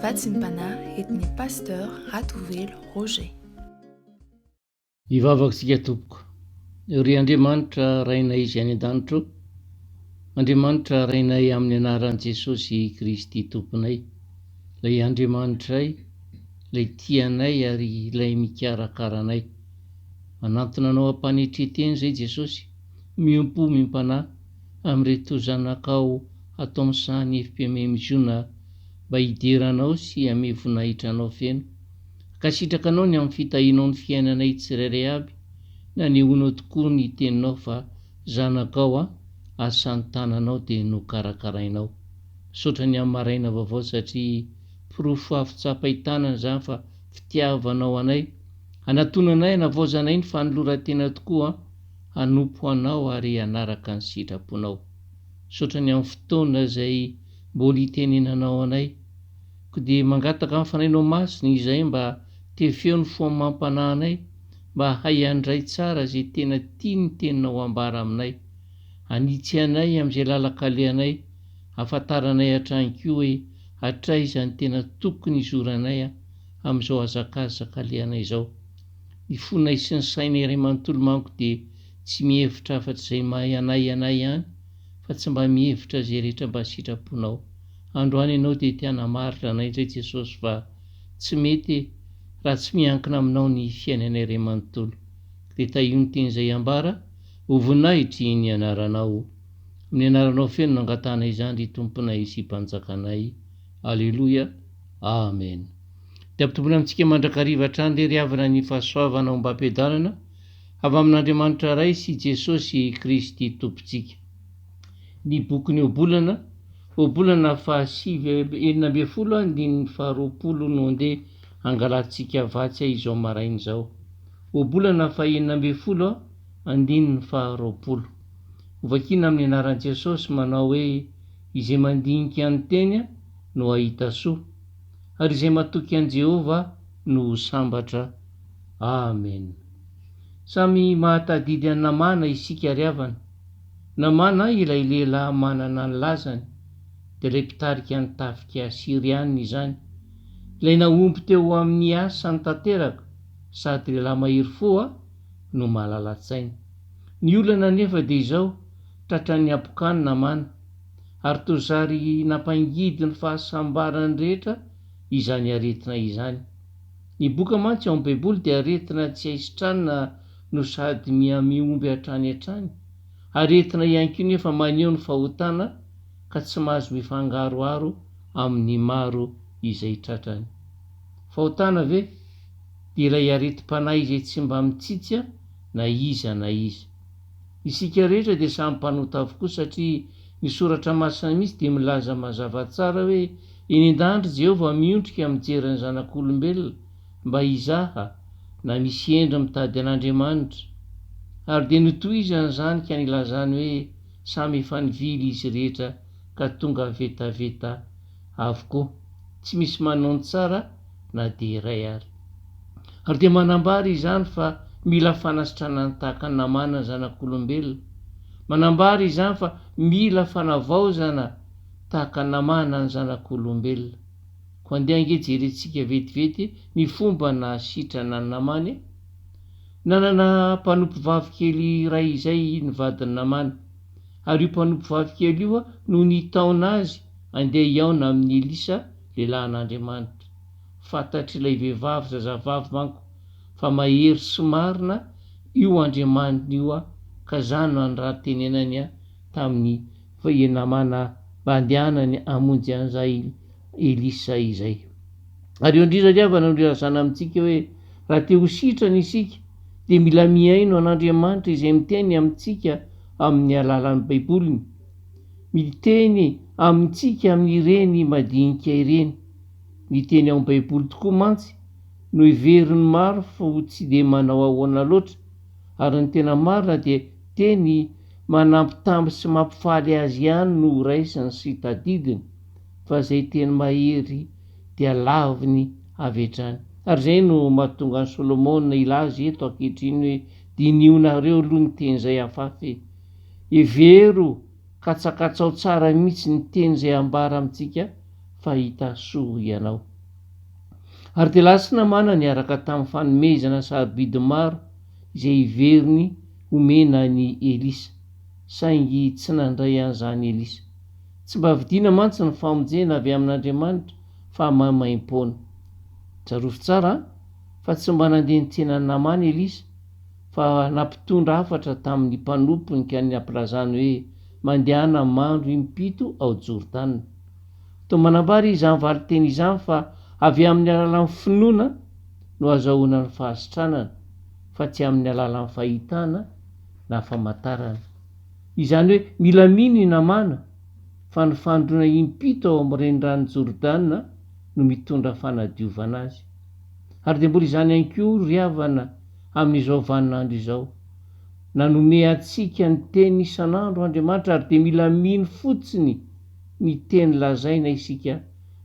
Vatsimpanahy entin'ny Pasteur Ratovelo Roger. Hivavaka isika tompoko. Ry Andriamanitra Rainay Izay any an-danitra ô, Andriamanitra Rainay amin'ny anaran'i Jesosy Kristy Tomponay, Ilay Andriamanitray, Ilay tia anay ary Ilay mikarakara anay. Manantona Anao am-panetre-teny izay Jesosy, miompo omy am-panahy, amin'ireto zanakao hatao misaha ny FPMMJona mba hidera anao sy hame voninahitra anao feno. Ankasitraka anao ny amin'ny fitahianao ny fiainanay tsirairay aby, nanehoanao tokoa ny teninao fa zanakao aho ary samy tananao dia nokarakarainao. Misaotra ny amin'ny maraina vaovao satria porofo afo tsapain-tanana izany fa fitiavanao anay, hanatonanay hanavaozanay ny fanoloran-tena tokoa an! hanompo Anao ary hanaraka ny sitraponao. Misaotra ny amin'ny fotoana izay mbola hitenenanao anay. Koa dia mangataka amin'ny Fanahinao Masina izahay mba tefeo ny fo amam-panahy anay mba hahay handray tsara izay tena tia ny Teninao hambara aminay. Hanitsy anay amin'izay lalan-kalehanay, hahafantaranay hatrany koa hoe hatraiza ny tena tokony hizoranay amin'izao hazakazaka alehanay izao. Ny fonay sy ny sainay iray manontolo manko dia tsy mihevitra afa-tsy izay anay anay ihany fa tsy mba mihevitra izay rehetra mba sitraponao. Androany ianao dia te hanamarina anay indray Jesosy fa tsy mety raha tsy miankina aminao ny fiainanay iray manontolo. Dia tahio ny teny izay ambara ho voninahitry ny anaranao. Amin'ny anaranao feno no angatahanay izany ry Tomponay sy Mpanjakanay. Aleloia. Amen. dia ampitomboina amintsika mandrakariva hatrany lery havana ny fahasoavana ombam-piadanana avy amin'Andriamanitra Ray sy Jesosy Kristy Tompontsika. Ny bokin'ny Ohabolana, Ohabolana fahasivy enina ambin'ny folo andininy faharoapolo no andeha hangalantsika vatsy izao maraina izao. Ohabolana fahenina ambin'ny folo andininy faharoapolo. Hovakiana amin'ny anaran'i Jesosy manao hoe izay mandinika ny teny no hahita soa. ary izay matoky an'i Jehovah no ho sambatra. Amen. Samy mahatadidy an'i Namàna isika ry havana. Namàna ilay lehilahy manana ny lazany, dia ilay mpitarika ny tafika Syriana izany, ilay nahomby teo amin'ny asany tanteraka sady lehilahy mahery fo no malala-tsaina. Ny olana anefa dia izao, tratran'ny habokan'i Namàna. Ary toa zary nampangidy ny fahasambaran'ny rehetra izany aretina izany. Ny boka mantsy ao amin'ny Baiboly dia aretina tsy hay sitranina no sady mihamihomby hatrany hatrany. Aretina ihany koa nefa maneho ny fahotana ka tsy mahazo mifangaroharo amin'ny maro izay tratrany. Fahotana ve? Dia ilay aretim-panahy izay tsy mba mitsitsy na iza na iza. Isika rehetra dia samy mpanota avokoa satria ny Soratra Masina mihitsy dia milaza mazava tsara hoe eny an-danitra i Jehovah miondrika mijery ny zanak'olombelona mba hizaha na misy hendry mitady an'Andriamanitra. Ary dia notohizany izany ka nilazany hoe samy efa nivily izy rehetra ka tonga vetaveta avokoa, tsy misy manao ny tsara na dia iray ary. Ary dia manambara izany fa mila fanasitranana tahaka ny namana ny zanak'olombelona, manambara izany fa mila fanavaozana tahaka ny namana ny zanak'olombelona. Koa andeha ange jerentsika vetivety ny fomba nahasitrana ny namany e! Nanana mpanompo vavikely iray izay ny vadin'ny namany, ary io mpanompo vavikely io no nitaona azy Andeha hihaona amin'i Elisa, lehilahin'Andriamanitra. Fantatr'ilay vehivavy zazavavy manko fa mahery sy marina io Andriamaniny io ka izany no anirahantenenany tamin'ny namana mba handehanany hamonjy an'izay Elisa izay. Ary eo indrindra ry havana no ilazana amintsika hoe raha te ho sitrana isika dia mila mihaino an'Andriamanitra izay miteny amintsika amin'ny alalan'ny Baiboliny. Miteny amintsika amin'ireny madinika ireny. Ny teny ao amin'ny Baiboly tokoa mantsy no heverin'ny maro fa ho tsy dia manao ahoana loatra, ary ny tena marina dia teny manambitamby sy mampifaly azy ihany no horaisiny sy tadidiny, fa izay teny mahery dia laviny avy hatrany. Ary izay no mahatonga an'i Solomona hilaza eto ankehitriny hoe, Diniho nareo aloha ny teny izay afafy e! Hevero, katsakatsao tsara mihitsy ny teny izay ambara amintsika fa hita soa ianao. Ary dia lasa namana niaraka tamin'ny fanomezana sarobidy maro izay heveriny homena an'i Elisa, saingy tsy nandray an'izany Elisa. Tsy mba vidiana mantsy ny famonjena avy amin'Andriamanitra fa maimaim-poana. Tsarovy tsara fa tsy mba nandeha nitsena an'i Namana Elisa, fa nampitondra hafatra tamin'ny mpanompony ka ny nampilazany hoe mandehana mandro impito ao Jordana. Toa manambara izany valinteny izany fa avy amin'ny alalan'ny finoana no hazahoana ny fahasitranana fa tsy amin'ny alalan'ny fahitana na famantarana. Izany hoe mila mino i Namàna fa ny fandroana impito ao amin'ny reniranon'i Jordana no mitondra fanadiovana azy. Ary dia mbola izany ihany koa ry havana amin'izao vaninandro izao. Nanome antsika ny teny isan'andro Andriamanitra ary dia mila mino fotsiny ny teny lazaina isika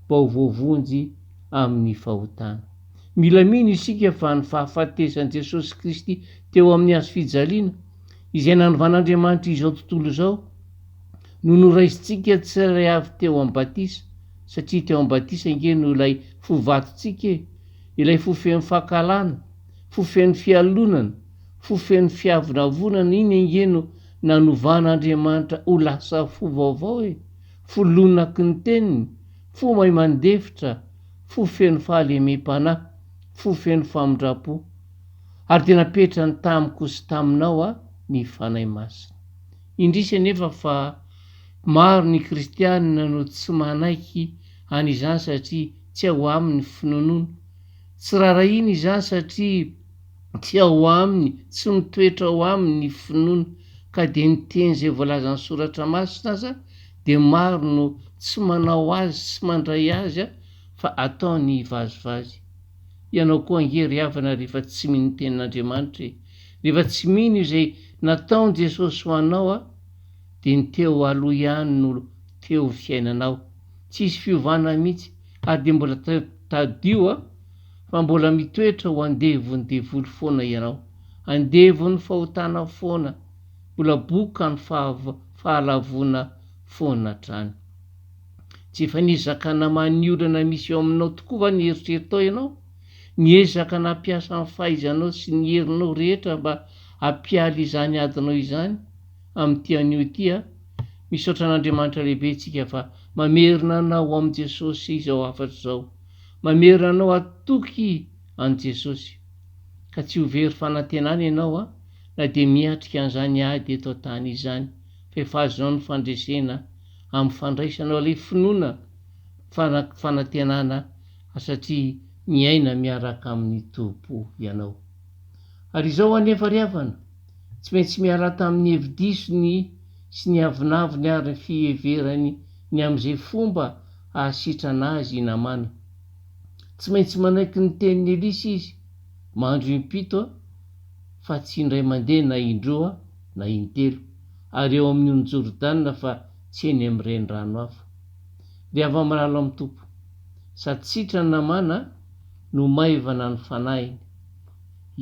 mba ho voavonjy amin'ny fahotana. Mila mino isika fa ny fahafatesan'i Jesosy Kristy teo amin'ny hazo fijaliana, izay nanovan'Andriamanitra izao tontolo izao, No noraisintsika tsy ilay avy teo amin'ny batisa, satria teo amin'ny batisa ange no ilay fo vatontsika e! Ilay fo feno fankahalana, fo feno fialonana, fo feno fiavonavonana iny ange no nanovan'Andriamanitra ho lasa fo vaovao e! Fo lonaky ny teniny, fo mahay mandefitra, fo feno fahalemem-panahy, fo feno famindram-po. Ary dia napetrany tamiko sy taminao a, ny Fanahy Masina. Indrisy anefa fa maro ny Kristianina no tsy manaiky an'izany satria tsy ao aminy ny finoanoana. Tsy rarahiany izany satria tsy ao aminy, tsy mitoetra ao aminy ny finoana, ka dia ny teny izay voalazan'ny Soratra Masina aza dia maro no tsy manao azy sy mandray azy fa ataony vazivazy. Ianao koa ange ry havana rehefa tsy mino ny Tenin'Andriamanitra e! Rehefa tsy mino izay nataony Jesosy ho anao a dia ny teo aloha ihany no teo fiainanao tsisy fiovana mihitsy ary dia mbola tadio a fa mbola mitoetra ho andevon'ny devoly foana ianao andevon'ny fahotana foana mbola bokany fahalavoana foana hatrany tsy efa nizakana maha ny olana misy eo aminao tokoa va ny eritreritao ianao Miezaka nampiasa ny fahaizanao sy ny herinao rehetra mba hampialy izany adinao izany amin'ity anio ity aho. Misaotra an'Andriamanitra lehibe isika fa mamerina anao amin'i Jesosy izao hafatra izao. Mamerina anao hatoky an'i Jesosy. Ka tsy ho very fanantenana ianao an, na dia miatrika an'izany ady eto an-tany izany, fa efa azonao ny fandresena amin'ny fandraisanao ilay finoana, fanantenana satria miaina miaraka amin'ny Tompo ianao. Ary izao anefa ry havana, tsy maintsy miarata amin'ny hevi-disony sy ny avonavony ary ny fiheverany ny amin'izay fomba hahasitrana azy i Namàna. Tsy maintsy manaiky ny tenin'i Elisa izy, Mandro impito, fa tsy indray mandeha na indroa na intelo, ary eo amin'ny ony Jordana fa tsy eny amin'ny renirano hafa. dia vao milalao amin'ny Tompo, sady sitrany namana no maivana ny fanahiny.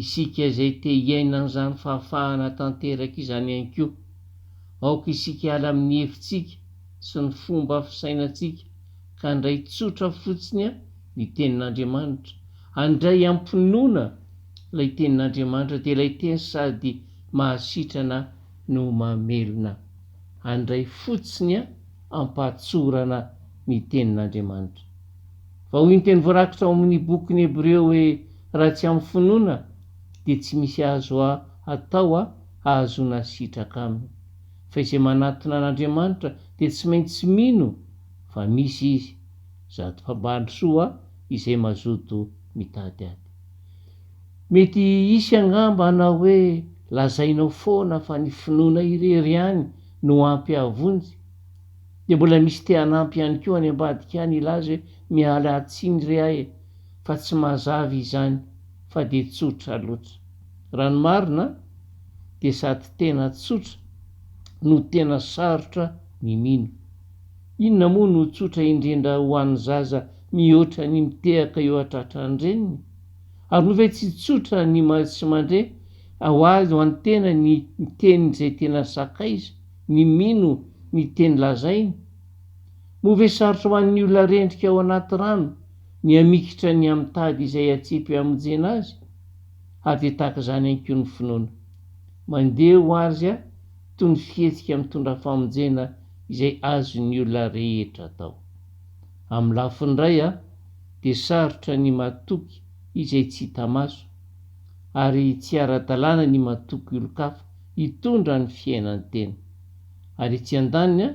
Isika izay te hiaina an'izany fahafahana tanteraka izany ihany koa, aoka isika hiala amin'ny hevitsika sy ny fomba fisainantsika ka handray tsotra fotsiny ny Tenin'Andriamanitra, handray am-pinoana ilay Tenin'Andriamanitra, dia ilay Teny sady mahasitrana no mamelona. handray fotsiny ampahatsorana ny Tenin'Andriamanitra. Vao iny teny voarakitra ao amin'ny bokin'ny Hebreo hoe raha tsy amin'ny finoana dia tsy misy azo atao hahazoana sitraka aminy. Fa izay manatona an'Andriamanitra dia tsy maintsy mino fa misy Izy, zato mpambandrosoa izay mazoto mitady aty. Mety hisy angamba hanao hoe lazainao foana fa ny finoana irery ihany no ampy hahavonjy, dia mbola misy te hanampy ihany koa any ambadika any hilaza hoe miala tsiny re aho e, fa tsy mazava izany fa dia tsotra loatra. Raha ny marina dia sady tena tsotra no tena sarotra ny mino. Inona moa no tsotra indrindra ho an'ny zaza mihoatra ny mitehaka eo an-tratran-dreniny? Ary moa ve tsy tsotra ny mahay sy mandre? Ho azy ho an'ny tena ny miteny izay tena sakaiza, ny mino ny teny lazainy? Moa ve sarotra ho an'ny olona rendrika ao anaty rano ny hamikitra ny hamitady izay hatsipy hamonjena azy? Hahavy tahaka izany ihany koa ny finoana. Mandeha ho azy toy ny fihetsika mitondra famonjena izay azon'ny olona rehetra atao. Amin'ny lafiny iray dia sarotra ny matoky izay tsy hita maso, ary tsy ara-dalàna ny matoky olon-kafa hitondra ny fiainan-tena. Ary etsy andaniny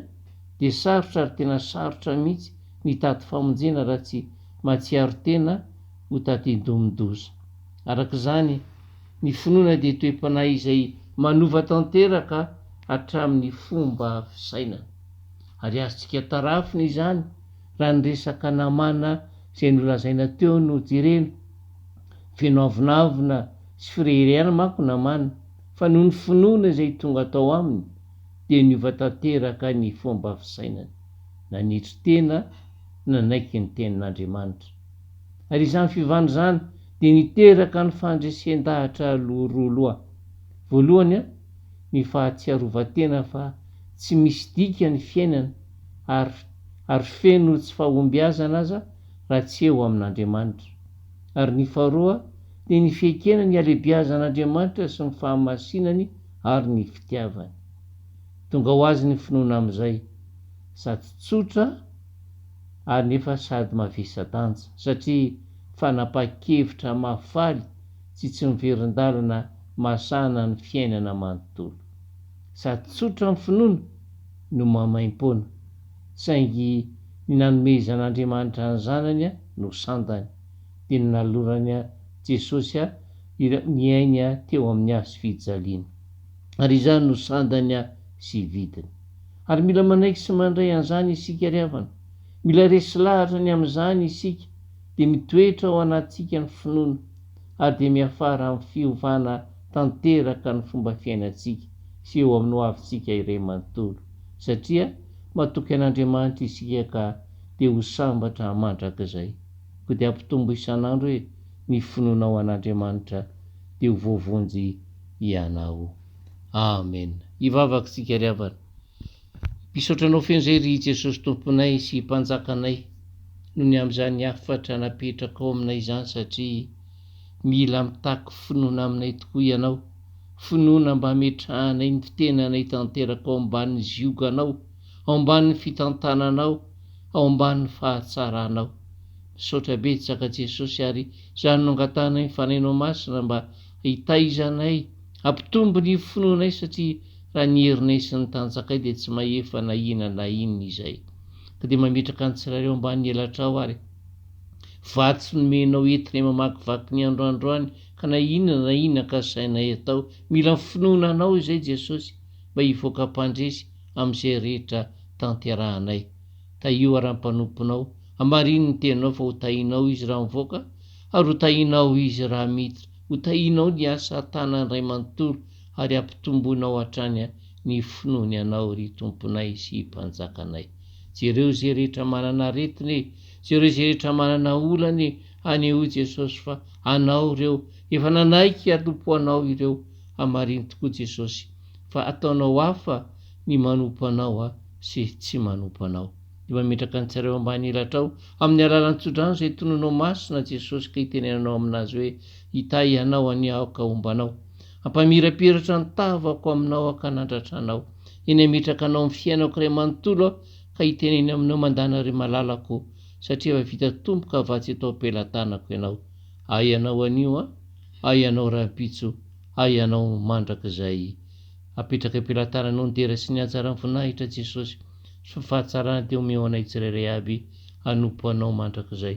dia sarotra ary tena sarotra mihitsy ny hitady famonjena raha tsy mahatsiaro tena ho tadindomin-doza. Araka izany, ny finoana dia toe-panahy izay manova tanteraka hatramin'ny fomba fisainana. Ary azontsika tarafina izany raha ny resaka namana izay nolazaina teo no jerena. Feno avonavona sy fireharehana manko namana fa noho ny finoana izay tonga tao aminy dia niova tanteraka ny fomba fisainany. Nanetry tena, nanaiky ny tenin'Andriamanitra. Ary izany fivana izany dia niteraka ny fandresen-dahatra roa loha. Voalohany, ny fahatsiarovan-tena fa tsy misy dika ny fiainana ary ary feno tsy fahombiazana aza raha tsy eo amin'Andriamanitra. Ary ny faharoa dia ny fiekena ny halebiazan'Andriamanitra sy ny fahamasinany ary ny fitiavany. Tonga ho azy ny finoana amin'izay, sady tsotra ary nefa sady mavesa-danja, satria fanapahan-kevitra mahafaly tsy tsy miverin-dalana mahasahana ny fiainana manontolo. Sady tsotra ny finoana no maimaim-poana, saingy ny nanomezan'Andriamanitra ny Zanany no sandany, dia ny nalorany Jesosy ireo niaina teo amin'ny hazo fijaliana. Ary izany no sandany sy vidiny. Ary mila manaiky sy mandray an'izany isika ry havana. Mila resy lahatra ny amin'izany isika. dia mitoetra ao anatintsika ny finoana ary dia miafara amin'ny fiovana tanteraka ny fomba fiainantsika sy eo amin'ny hoavintsika iray manontolo, satria matoky an'Andriamanitra isika ka dia ho sambatra mandrakizay. Koa dia ampitombo isan'andro hoe ny finoanao an'Andriamanitra dia ho voavonjy ianao. Amen. Hivavaka isika ry havana. Misaotra anao feno zay ry Jesosy Tomponay sy Mpanjakanay noho ny amin'izany hafatra napetrakao aminay izany satria mila mitaky finoana aminay tokoa ianao, finoana mba hametrahanay ny fitenanay tanteraka ao ambanin'ny zioganao, ao ambanin'ny fitantananao, ao ambanin'ny fahatsaranao. Misaotra betsaka Jesosy ary izany no angatahanay ny Fanahinao Masina mba hitaizanay, hampitombo ny finoanay satria Raha ny herinay sy ny tanjakay dia tsy mahefa na inona na inona izay. Ka dia mametraka ny tsiraireo ambanin'ny elatrao ary. Vatsy nomenao entinay mamakivaky ny andro androany ka na inona na inona ankasainay atao, mila ny finoana Anao izay Jesosy mba hivoaka mpandresy amin'izay rehetra tanterahanay. Tahio ary ny mpanomponao, hamarino ny teninao fa ho tahinao izy raha mivoaka ary ho tahinao izy raha miditra. Ho tahinao ny asa tanan-dray manontolo ary hampitomboinao hatrany ny finoany Anao, ry Tomponay sy Mpanjakanay. Jereo izay rehetra manana aretina e! Jereo izay rehetra manana olana e! Hanehoy Jesosy fa Anao ireo, efa nanaiky hialompo Anao ireo. Hamarino tokoa Jesosy fa ataonao hafa ny manompo Anao sy tsy manompo Anao. Dia mametraka ny tsirairay ambany elatrao amin'ny alalan'ny tsodrano izay tononao masina Jesosy ka itenenanao aminazy hoe, Hitahy anao anie aho ka homba anao. Hampamirapiratra ny tavako aminao ankanandratra anao. Eny hametraka anao amin'ny fiainako iray manontolo aho ka hiteneny aminao mandana ry malalako o, satria efa vita tompo ka vatsy eto am-pelatanako ianao. Ahy ianao anio an! Ahy ianao rahampitso! Ahy ianao mandrakizay! Apetraka am-pelatananao ny dera sy ny hatsaran'ny voninahitra Jesosy sy ny fahatsarany dia omeo anay tsirairay aby hanompo anao mandrakizay.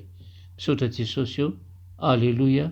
Misaotra Jesosy o! Aleloia!